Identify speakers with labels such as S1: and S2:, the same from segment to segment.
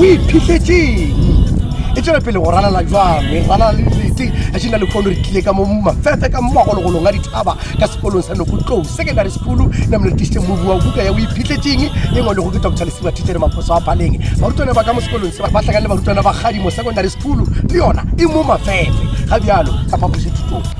S1: o iphitlhetseng e tswela pele go ralala jwang e ralala le dilete a šena le kgono re tlile ka mo mafefe ka mogologolong a dithaba ka sekolong sa nokotlou secondary school na mone re tlisitse mobu wa buka ya o iphitlhetseng e ngwa lego ke doctor lesiba thitsere maphoso a phaleng barutwana ba ka mo sekolong se ba tlhakane le barutwana ba gadimo secondary school le yona e mo mafefe ga bjalo ka phaposethutong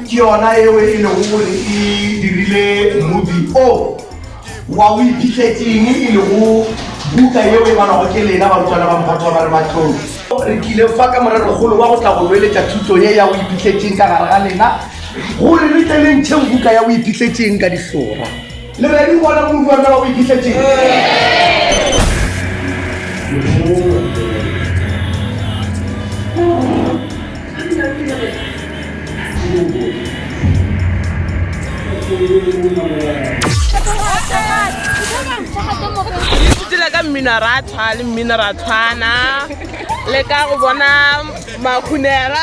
S1: Ke yona yeo e lego gore e dirile mmobi o wa o iphitletseng e lego buka yeo e balwago ke lena barutwana ba Mphato ba re Matlong. Re tlile fa ka morerokgolo wa go tla go loeletša thuto ye ya o iphitletseng ka gare ga lena gore re tle le ntšheng buka ya o iphitletseng ka dihlora. Le ready go bona Moruti wa taba o iphihletseng? Letsatsi la ka mmino a ra tshwa le mmino ra tshwana le ka go bona makhunera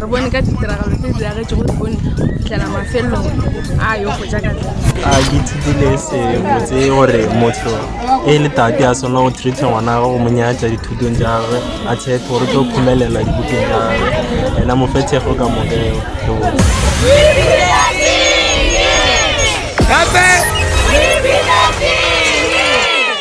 S1: re bone ka ditiragalo tse diragetšego leone go fitlhela mafelelong a yo go ja ka a ke thutile sebotse gore motho e le tate a swana go treata ngwana gage go mo nyatsa dithutong tsa gagwe a tshepe gore tlo khumelela dibukeng tsa gagwe ena mo fetshego ka mokeo gape